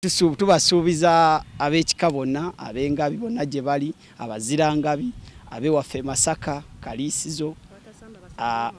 tubasuubiza ab'ekika bonna ab'engabi bonna gye bali abazirangabi abewaffe masaka kaliisizo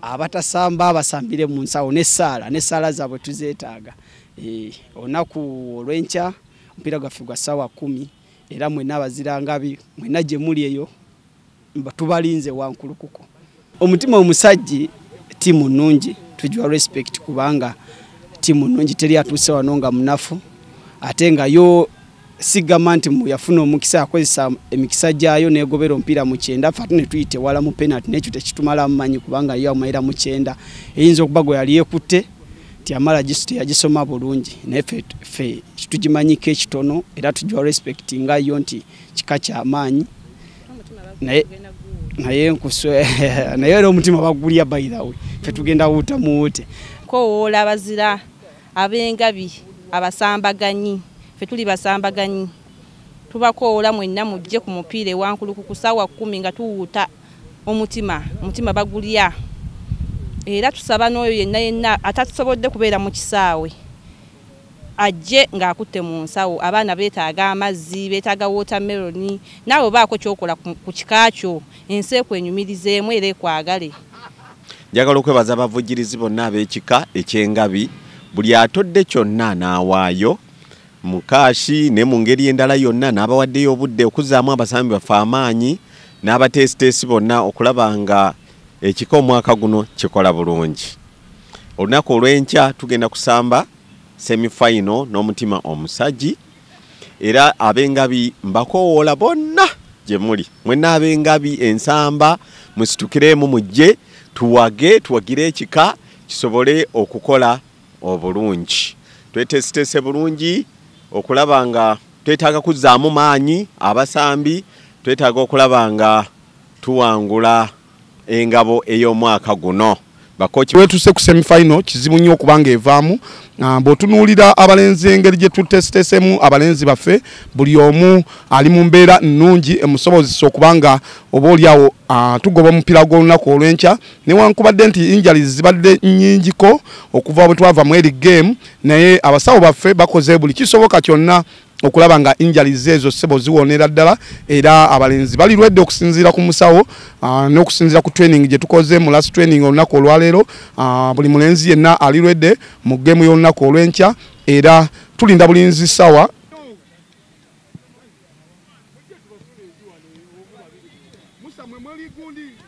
abatasamba abasambire mu nsawo n'essaala n'essaala zaabwe tuzeetaaga eh, olunaku olw'enkya omupiira gwaffe gwa ssaawa kumi era mwena abazirangabi mwena gye muli eyo tubalinze wankulukuku omutima omusajji tiimu nnungi tujwa respect kubanga tiimu nnungi teri atuuse wano nga munafu ate nga yo sigamba nti yafuna omukisa akozesa emikisa gyayo negobera omupiira mu kyenda fe ate ne tuyite wala mu penalty nekyo tekitumala mumanyi kubanga yo amayira mu kyenda eyinza okuba gwe yali ekutte nti amala gisu teyagisoma bulungi naye fe kitugimanyiko ekitono era tujwa respect nga yo nti kika kyamaanyi naye naye nkuswe naye era omutima bagulya by the way fe tugenda wuta muwute kowoola abazira ab'engabi abasambaganyi fe tuli basambaganyi tubakoola mwenna mujje ku mupiira ewankuluku ku saawa kkumi nga tuwuuta omutima omutima bagulya era tusaba n'oyo yenna yenna atatusobodde kubeera mu kisaawe ajje ng'akutte mu nsawo abaana beetaaga amazzi beetaaga wootameroni naawe obaako kyokola ku kika kyo ensi ekwenyumirizeemu era ekwagale njagala okwebaza abavujjirizi bonna ab'ekika eky'engabi buli atodde kyonna n'awaayo mukaashi ne mu ngeri endala yonna n'abawaddeyo obudde okuzaamu abasambi baffe amaanyi n'abateesiteesi bonna okulaba nga ekika omwaka guno kikola bulungi olunaku olw'enkya tugenda kusamba semifayino n'omutima omusagi era ab'engabi mbakoowoola bonna gye muli mwena ab'engabi ensamba musitukireemu mujje tuwage tuwagire ekika kisobole okukola obulungi twetesitese bulungi okulaba nga twetaaga kuzzaamu maanyi abasambi twetaaga okulaba nga tuwangula engabo ey'omwaka guno bakoki wetuse ku semi final kizibu nnyo okubanga evaamu ah, bw'otunuulira abalenzi engeri gye tutesitesemu abalenzi baffe buli omu ali mu mbeera nnungi emusobozesa okuba nga oba oliawo ah, tugoba omupiira gw'olunaku olw'enkya newankubadde nti injali zibadde nnyingiko okuva bwe twava mu eri game naye abasawo baffe bakoze buli kisoboka kyonna okulaba nga injali zeezo sebo ziwonera ddala era abalenzi bali lwedde okusinziira ku musawo ah, n'okusinziira ku training gye tukoze mu last training olunaku olwaleero ah, buli mulenzi yenna ali lwedde mu geemu y'olunaku olw'enkya era tulinda bulinzi sawa